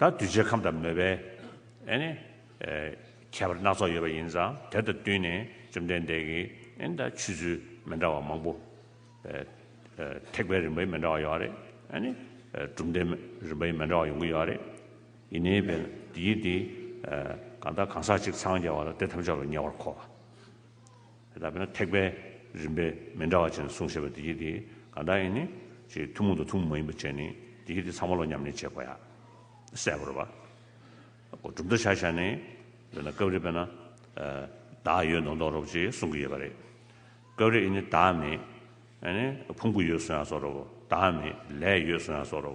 ད་གདུལ་བྱའི་ཁམས་དང་མོས་པའི་ཁྱད་པར་སྣ་ཚོགས་ཡོད་པ་ཡིན་ཙང་དེ་དང་བསྟུན་ནས་བཅོམ་ལྡན་འདས་ཀྱིས་ཆུད་ཟོས་མི་འདྲ་བ་མང་པོ། ཐེག་པའི་རིམ་པའི་མི་འདྲ་བ་ཡོད་རེད། གྲུབ་མཐའི་རིམ་པའི་མི་འདྲ་བ་ཡོང་གི་ཡོད་རེད། ཡིན་ནའི་བས་ན་དེའི་དེ་གང་དང་གང་ཟག་གཅིག་འཚང་རྒྱ་བ་ལ་དེ་ཐམས་ཅད་ལ་ཉེ་བར་མཁོ་བ། ད་བས་ན་ཐེག་པའི་རིམ་པས་མི་འདྲ་བ་བྱས་ནས་གསུངས་ཞེས་པ་འདི་སྐད་དེ་གང་དག་ཡིན་ནི། ཅེས་ཐུན་མོང་དང་ཐུན་མོང་མ་ཡིན་པ་བཅས་ནི་འདི་སྐད་དེ་ཚང་མ་ལོ་མཉམ་ནི་བྱེད་དགོས་ཡ། གསལ་བོར་བ། གོ། གྲུབ་མཐའ་ཤར་ཤར་ནི། དཔེར་ན་སྐབས་རེ་བས་ན། བདག་ཡོད་མདོག་མདོག་རོ་བཅས་གསུང་གི་ཡོད་པ་རེད། སྐབས་རེ་ཨེ་ནི་བདག་མེད། ཨེ་ནི་ཕུང་པོ་ཡོད་གསུང་ཡང་སོགས་རོ། བདག་མེད་ལས་ཡོད་གསུང་ཡང་སོགས་རོ།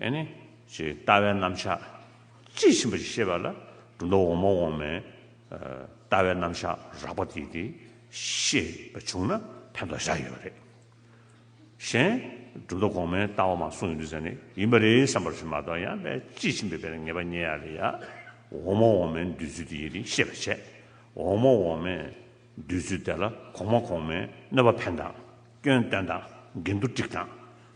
ཨེ་ནི། ཞེས་ལྟ་བའི་རྣམ་གཞག། དཔྱིས་ཕྱིན་པ་ཞེས་བཤད་པ་ལ། གྲུབ་མཐའ་འོག་མ་འོག་མའི། ལྟ་བའི་རྣམ་གཞག་རགས་པ་དེ་དེ། ཤེས་པ་བྱུང་ན་ཕན་ཐོགས་བཞག་ཡོད་པ་རེད། གཞན། གྲུབ་མཐའ་གོང་མའི་ལྟ་བ་མ་གསུངས་ཡོད་དུས་ཟེར་ནས་ཡིན་པ་རེད་བསམ་པར་ཞུ་མ་གཏོགས་ཡང་པས་དཔྱིས་ཕྱིན་པའི་བའི་ངེས་པ་རྙེད་ཡ་རེད་ཡ། འོག་མ་འོག་མའི་འདོད་ཚུལ་དེ་ཡིན་རིང་ཤེས་པར་བྱས། འོག་མ་འོག་མའི། འདོད་ཚུལ་དེ་ལ་གོང་མ་གོང་མའི་གནོད་པ་ཕན་དང། སྐྱོན་བསྟན་དང་འགལ་འདུ་སྒྲིག་དང།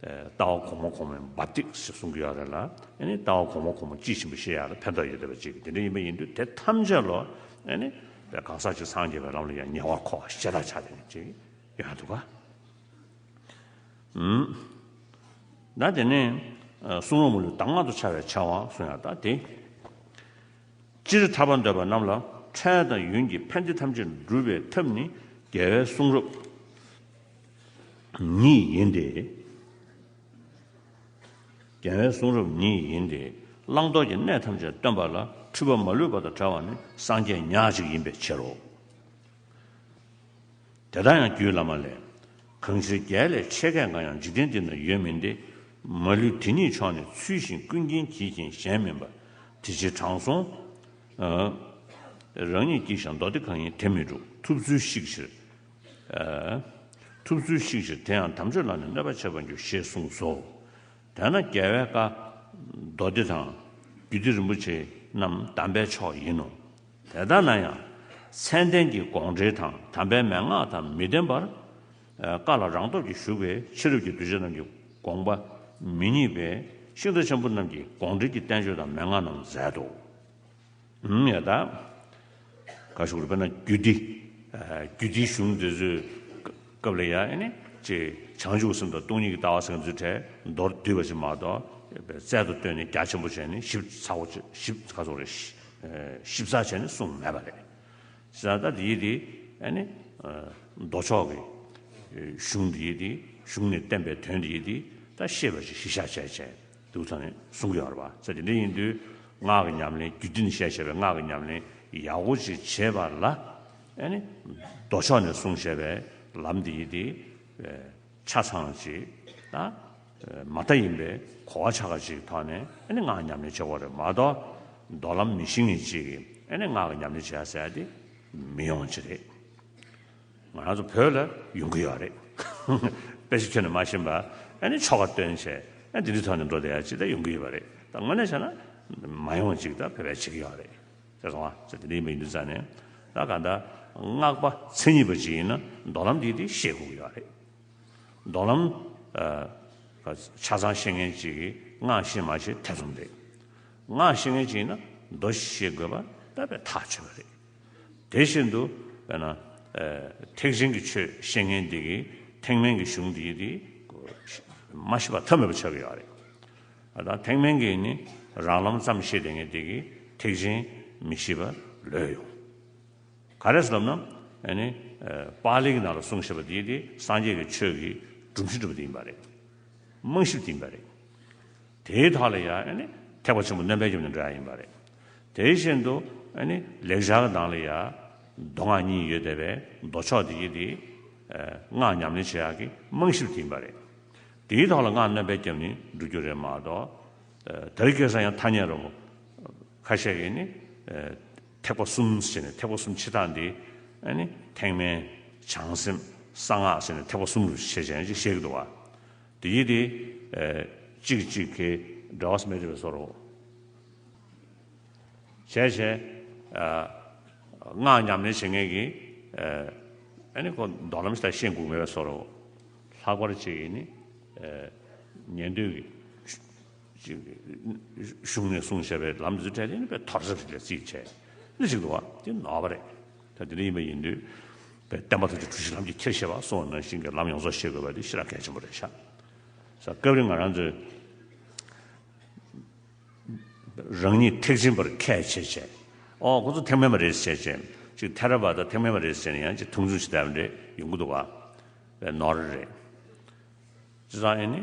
ལྟ་བ་གོང་མ་གོང་མའི་འབབ་སྟེགས་ཞེས་གསུང་གི་ཡོད་རེད་ལ། ཡང་ན་ལྟ་བ་གོང་མ་གོང་མ་ཅི་བཞིན་པ་ཞེས་ཡང་ལ་ཕན་ཐོགས་ཡོད་བསྡད་པ་ཅིག་གིས་དེ་འདྲ་ཡིན་པ་ཡིན་དུས་དེ་ཐམས་ཅད་ལོ། ཡང་ན་གང་ཟག་གཅིག་སངས་རྒྱས་པའི་ལམ་ལ་ཡང་ཉེ་བར་མཁོ་བ་ཤེས་རྟགས་ཆགས་བསྡད་ཅིག་ཡོད་ཡང་འདུག་ག། ད་དེ་ནས་གསུང་རོགས་མུ་ལོས་གདམས་ངག་ཏུ་འཆར་བའི་ཕྱག་དབང་གསུང་ཡང་ལྟ་དེ། སྤྱིར་ཐར་པ་འདོད་པ་རྣམས་ལ་འཕྲལ་དང་ཡུན་གྱི་ཕན་བདེ་ཐམས་ཅད་འགྲུབ་པའི་ཐབས་ནི་རྒྱལ་བའི་གསུང་རབ། ཉིད་ཡིན་ཏེ། རྒྱལ་བའི་གསུང་རབ་ཉིད་ཡིན་ཏེ། བླང་དོར་གྱི་གནས་ཐམས་ཅད་སྟོན་པ་ལ་འཁྲུལ་པ་མ་ལུས་པ་དང་བྲལ་བ་ནི་སངས་རྒྱས་ཉག་གཅིག་ཡིན་པའི་ཕྱིར་རོ། དེ་དག་ཡང་རྒྱུད་བླ་མ་ལས། གང་ཕྱིར་རྒྱལ་ལས་ཆེ་སྐད་འགའ་ཡང་འཇིག་རྟེན་འདི་ན་ཡོད་མིན་ཏེ། མ་ལུས་དེ་ཉིད་མཆོག་ནི་ཚུལ་བཞིན་ཀུན་མཁྱེན་གྱིས་མཁྱེན་གཞན་མིན་པ། དེ་ཕྱིར་དྲང་སྲོང། རང་ཉིད་ཀྱིས་ཀྱང་མདོ་སྡེ་གང་ཡིན་དེ་མི་སྒྲུབ་ཐུབ་ཚུལ་བཤིག་ཕྱིར། ཐུབ་ཚུལ་གཤིགས་ཕྱིར་དེ་ཡང་དམ་ཆོས་ལ་ནི་གནོད་པ་བྱེད་པར་འགྱུར་ཞེས་གསུངས་སོ། དེས་ན་རྒྱལ་བའི་བཀའ། མདོ་སྡེ་དང། རྒྱུད་སྡེ་རིན་པོ་ཆེ་རྣམས་དམ་པའི་མཆོག་ཡིན་ནོ། དེ་ལྟ་ན་ཡང། མཚན་ལྡན་གྱི་དགོངས་འགྲེལ་དང་དམ་པའི་མན་ངག་དང་མི་ལྡན་པར། བཀའ་ལ་རང་སྟོབས་ཀྱིས་ཞུགས་པའི་ཕྱི་རབས་ཀྱི་གདུལ་བྱ་རྣམས་ཀྱི་དགོངས་པ་མི་རྙེད་པས་གཤིན་རྟ་ཆེན་པོ་རྣམས་ཀྱིས་དགོངས་འགྲེལ་གྱི་བསྟན་བཅོས་དང་མན་ངག་རྣམས་མཛད་དོ། ཡང་དག་ག་ཞུགས་པ་ན་རྒྱུད་འདི་རྒྱུད་འདིའི་གཞུང་འདི་ཚོའི་སྐབས་ལ་ཡང་ནི་ཅེས་བྱང་ཆུབ་སེམས་དང་སྟོང་ཉིད་ཀྱི་ལྟ་བ་སེམས་ཀྱི་ཚུལ་ཕྲད་མདོར་བསྡུས་པ་ཅན་མ་གཏོགས་པའི་རྩལ་དུ་བཏོན་ནས་རྒྱ་ཆེན་པོ་བྱས་ནས་ཞིབ་ཚགས་བྱས་ནས་གསུངས་མེད་པ་རེད། ད་ལྟ་ཡིད་འདི་མདོ་ཕྱོགས་ཀྱི་གཞུང་འདི་ཡིད་འདི་གཞུང་ནས་བསྟན་པའི་དོན་འདི་ཡིད་འདི་ད་ཤེས་པ་ཅིག་གཞི་བཞག་བྱས་བྱས། དུག་དང་གསུང་གི་བར་བ་ཚེ་དེ་འདྲ་ཡིན་དུས་སྔགས་ཀྱི་ཉམས་ལེན་རྒྱུད་སྡེ་ནི་ཞེས་བྱ་བའི་སྔགས་ཀྱི་ཉམས་ལེན་ཡག་པོ་ཞིག་བྱེད་པ་ལ་ཨེ་ནི། མདོ་ཕྱོགས་ནས་གསུངས་བྱས་པའི་ལམ་འདི་ཡིན་ཏེ། ཆ་ཚང་ཞིག་དང། མ་མཐའ་ཡིན་པས་གོ་བ་ཆ་ག་ཅིག་ཐོག་ནས་ཨེ་ནི་སྔགས་ཉམས་ལེན་བྱེད་དགོས་རེད་མ་གཏོགས་མདོ་ལམ་མི་ཤེས་ངེས་ཅིག་གིས་ཨེ་ནི་སྔགས་ཀྱི་ཉམས་ལེན་བྱས་ཟེར་ཏེ་མི་ཡོང་ཅི་རེད། ང་རང་ཚོ་བོད་ལ་ཡོང་གི་ཡོད་རེད། དཔེ་ཆ་ཁྱོན་ནས་མ་ཤེས་པ། ཨ་ནི་ཆོ་ག་སྟོན་བྱས། ཨ་འདི་འདྲའི་ཐོག་ནས་འགྲོ་བསྡད་ཡ་ཅི་ད་ཡོང་གི་ཡོད་པ་རེད། ད་དངོས་གནས་བྱས་ན། མ་ཡོང་ཅིག་ད་བེད་བེད་བྱེད་ཀྱི་ཡོད་རེད། ཟེར་སོང་ཨ་ཟེར་འདི་འདྲ་ཡིན་པ་ཡིན་འདུག་ཙང་ནས། ད་ག་ད། སྔགས་པ་མཚན་ཉིད་པ་ཅིག་ཡིན་ན་མདོ་ལམ་འདི་འདི་ཤེས་དགོས་ཀྱི་ཡོད་རེད། མདོ་ལམ། ཆ་ཚང་ཤེས་མཁན་ཅིག་གིས་སྔགས་ཤེས་མ་ཤེས་ཐེ་ཚོམ་རེད། སྔགས་ཤེས་མཁན་ཅིག་ཡིན་ན་མདོ་ཤེས་དགོས་པ་ད་བས་ཐག་ཆོད་པ་རེད། དེ་བཞིན་དུ་བས་ན། ཐེག་ཆེན་གྱི་ཆོས་བཤེས་གཉེན་འདི་གིས་ཐེག་དམན་གྱི་གཞུང་འདིའི་དེ། མ་ཤེས་པ་ཐབས་མེད་པ་ཆགས་ཀྱི་ཡོད་རེད། ད་ཐེག་དམན་གྱི་ནི་རང་ལམ་ཙམ་ཤེས་དེ་ངེས་དེ་གིས་ཐེག་ཆེན་མི་ཤེས་པ་ལོས་ཡོང། ག་རེ་ལབ་ན། པཱ་ལིའི་ནང་ལ་གསུངས་ཞེས་པ་འདིའི་དེ་སངས་རྒྱས་ཀྱི་ཆོས་ཀྱི་སྒྲུབ་གཞི་འགྲུབ་པ་དེ་ཡིན་པ་རེད། རྨང་གཞི་དེ་ཡིན་པ་རེད། དེའི་དག་ལ་ཡང་ཐེག་པ་ཆེན་པོ་རྣམ་པའི་རྒྱུ་ནི་འདྲ་ཡིན་པ་རེད། དེ་བཞིན་དུ་ལེགས་བྱང་གི་ནང་ལ་ཡང་མདོ་སྔགས་གཉིས་ཡོད་དེ་བས་མདོ་ཕྱོགས་འདི་ཡི་དེ་སྔགས་ཉམས་ལེན་བྱེད་ཡག་གི་རྨང་གཞི་དེ་ཡིན་པ་རེད། དེའི་དག་ལ་སྔགས་རྣམ་པའི་རྒྱབ་ནས་འགྲོ་རྒྱུ་རེད་མ་གཏོགས། དེར་སྐྱེལ་ས་ཡང་ཐ་སྙད་རོ། ཁ་ཤས་ཀྱིས་ནི་ཐེག་པ་གསུམ་ཟེར་ནས་ཐེག་པ་གསུམ་ཕྱི་རྟགས་འདི་ཐེག་དམན། བྱང་སེམས། གསང་སྔགས་ཟེར་ནས་ཐེག་པ་གསུམ་རུ་ཕྱེ་བྱས་ནས་ཅིག་བཤད་ཀྱི་འདུག་བ། དེ་ཡིད་དེ། གཅིག་གིས་གཅིག་གི་འདྲ་བ་སྨད་དྲི་བའི་སོར་རོ། བྱས་བྱས། སྔགས་ཉམས་ལེན་བྱེད་ངེས་ཀྱི། ཨ་ནི་ཁོ་མདོ་ལམ་ལྟར་ཤེས་འགུགས་མེད་པའི་སོར་རོ། ལྷག་པར་གཅིག་གིས་ནི། ཉན་ཐོས་ཀྱི། གཞུང་ནས་གསུངས་བྱས་པའི་ལམ་འདི་ཚུལ་ཕྲད་དེ་ནི་དཔེ་ཐོར་ཟབ་ཞིག་ལས་རྩིས་བྱས། ནི་ཞིག་ཏུ་བ། དེ་ནོར་བ་རེད། ད་དེ་འདྲ་ཡིན་པ་ཡིན་དུས། པའི་བསྟན་པ་ཐུགས་རྗེ་གྲུ་བཞི་ལམ་གྱི་འཁྱེར་ཤེས་པ་སོགས་ནང་བཞིན་གྱི་ལམ་ཡོངས་རྫོགས་ཤེས་དགོས་པ་དེ་ཤེས་རབ་གལ་ཆེན་པོ་རེད་ཤག། ས་སྐབས་རེ་ང་རང་ཚོའི། རང་ཉིད་ཐེག་ཆེན་པར་ཁས་འཆེས་བྱས། ཨོ་ཁོང་ཚོ་ཐེག་དམན་པ་རེད་ཟེར་བྱས། གཅིག་ཐེ་ར་བ་ད་ཐེག་དམན་པ་རེད་ཟེར་ནས་ཡང་གཅིག་ཐུང་ཆུང་ཇི་ལྟར་འདྲེ་ཡོང་གི་འདུག་བ། པའི་ནོར་རེད། ཅི་ཙང་ཨེ་ནི།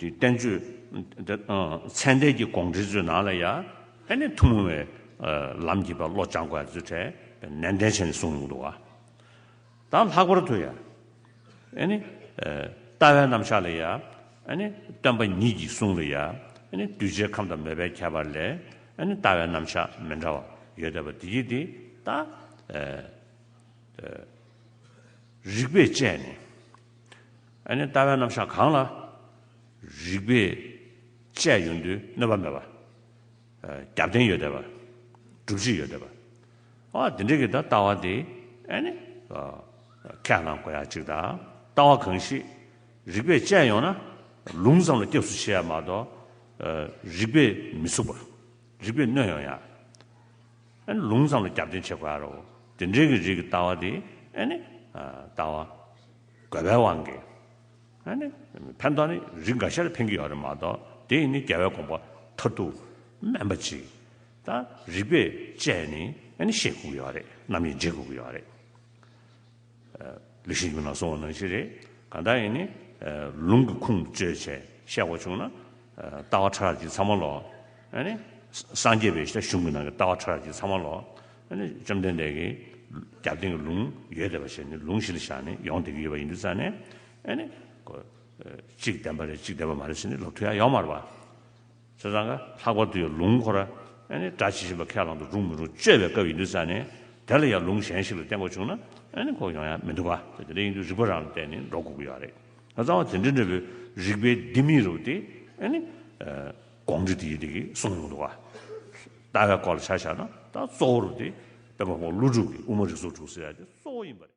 དེའི་བསྟན་བཅོས། མཚན་ལྡན་གྱི་དགོངས་འགྲེལ་མཛོད་ནང་ལ་ཡང་ནི་ཐུན་མོང་བའི་ལམ་གྱི་བ་བློ་སྦྱང་དགོས་ཚུལ་ཐད་ནན་ཏན་བྱས་ནས་གསུངས་མྱོང་འདུག་ད་ལྷག་པར་དུ་ཡང་ནི། ལྟ་བའི་རྣམ་གཞག་ལ་ཡང་ནི་སྟོན་པ་ཉིད་ཀྱི་གསུང་ལ་ཡང་ནི་གདུལ་བྱའི་ཁམས་དང་མོས་པའི་ཁྱད་པར་ལས་ནི་ལྟ་བའི་རྣམ་གཞག་མི་འདྲ་བ་ཡོད་དེ་བ་དེ་ཡིས་དེ་དག་རིགས་པས་དཔྱད་ནས། ཨ་ནི་ལྟ་བའི་རྣམ་གཞག་གང་ལ། རིགས་པས་དཔྱད་ཡོད་འདོད་གནོད་པ་མེད་པ། རྒྱབ་རྟེན་ཡོད་བསྡད་པ། སྒྲུབ་བྱེད་ཡོད་བསྡད་པ། འོ་དེ་འདྲ་གི་ད་ལྟ་བ་དེ་ཨ་ནི། ཁས་བླངས་དགོས་ཡག་ཅིག་དང་ལྟ་བ་གང་ཞིག་རིགས་པས་དཔྱད་ཡོང་ན་ལུང་ཙམ་ལ་སྐྱབས་སུ་མཆི་ཡ་མ་གཏོགས། རིགས་པས་མི་ཚུགས་པ། རིགས་པས་གནོད་ཡོང་ཡ། ཨ་ནི་ལུང་ཙམ་ལ་རྒྱབ་རྟེན་བྱེད་དགོས་ཡ་རོ། དེ་འདྲའི་གི་རིགས་ཀྱི་ལྟ་བ་དེ་ཨ་ནི། ལྟ་བ། དགོས་པའི་དབང་གིས། ཨ་ནི། ཕན་ཐོགས་ནི་རིགས་འགའ་ཤར་འཕེན་གྱི་ཡོད་རེད་མ་གཏོགས་དེ་ཡིན་ནི་རྒྱལ་བའི་དགོངས་པ་མཐར་ཐུག་སྨན་པ་གཅིག་དང་རིགས་པས་དཔྱད་ནི་ཨ་ནི་ཤེས་དགོས་ཀྱི་ཡོད་རེད་རྣམ་དབྱེ་འབྱེད་དགོས་ཀྱི་ཡོད་རེད། ལི་ཤིའི་རྒྱུན་ལ་སོང་བ་ནང་བཞིན་རེད་གང་ལྟར་ཡིན་ནི་ལུང་གི་ཁུངས་བཅོལ་བྱས་བཤད་དགོས་བྱུང་ན་ལྟ་བ་ཕྲ་རགས་ཀྱི་ཚང་མ་ལོག་ཨ་ནི། སངས་རྒྱས་པའི་གཞུང་གི་ནང་གི་ལྟ་བ་ཕྲ་རགས་ཀྱི་ཚང་མ་ལོག་བཅོམ་ལྡན་འདས་ཀྱིས་རྒྱབ་རྟེན་གྱི་ལུང་ཡོད་དེ་བ་ཞེས་ནི་ལུང་གཞི་ལ་བཞག་ནས་ཡོངས་འདེགས་ཀྱི་ཡོད་པ་ཡིན་དུ་བཙལ་ནས། གཅིག་བདེན་པ་རེད་གཅིག་བདེན་པ་མ་རེད་ཟེར་ནི་ལོག་ཐུག་ཡང་ཡོང་མ་རུང་བ། ཚོད་ཙང་གི་ལྷག་པར་དུ་ཡང་ལུང་ཁོ་ར་སྒྲ་ཇི་བཞིན་པ་ཁས་བླང་དུ་རུང་མི་རུང་དཔྱོད་པའི་སྐབས་ཡིན་དུ་བཙལ་ནས་དེ་ལ་ཡང་ལུང་གཞན་ཞིག་ལ་བརྟེན་དགོས་བྱུང་ན་ཁོག་ཡོང་ཡག་མི་འདུག་བ། དེ་འདྲ་ཡིན་དུ་རིགས་པ་རང་ལ་བརྟེན་ནས་འགྲོ་དགོས་ཀྱི་ཡོད་རེད། གཙང་བ་དེ་འདྲ་འདྲ་བོའི་རིགས་པའི་ལྡེ་མིག་རུ་དེ་དགོངས་འགྲེལ་དེ་ཡིན་འདུག་གསུངས་ཡོང་འདུག་བ། ལྟ་བའི་སྐོར་ལ་ཆ་བཞག་ན་ད་གཙོ་བོར་དེ་དཔོན་པོ་ཧོང་ཀླུ་སྒྲུབ་ཀྱི་དབུ་མ་རིགས་གཟུགས་དྲུག་ཟེར་ཡ་དེ་གཙོ་བོ་ཡིན་པ་རེད།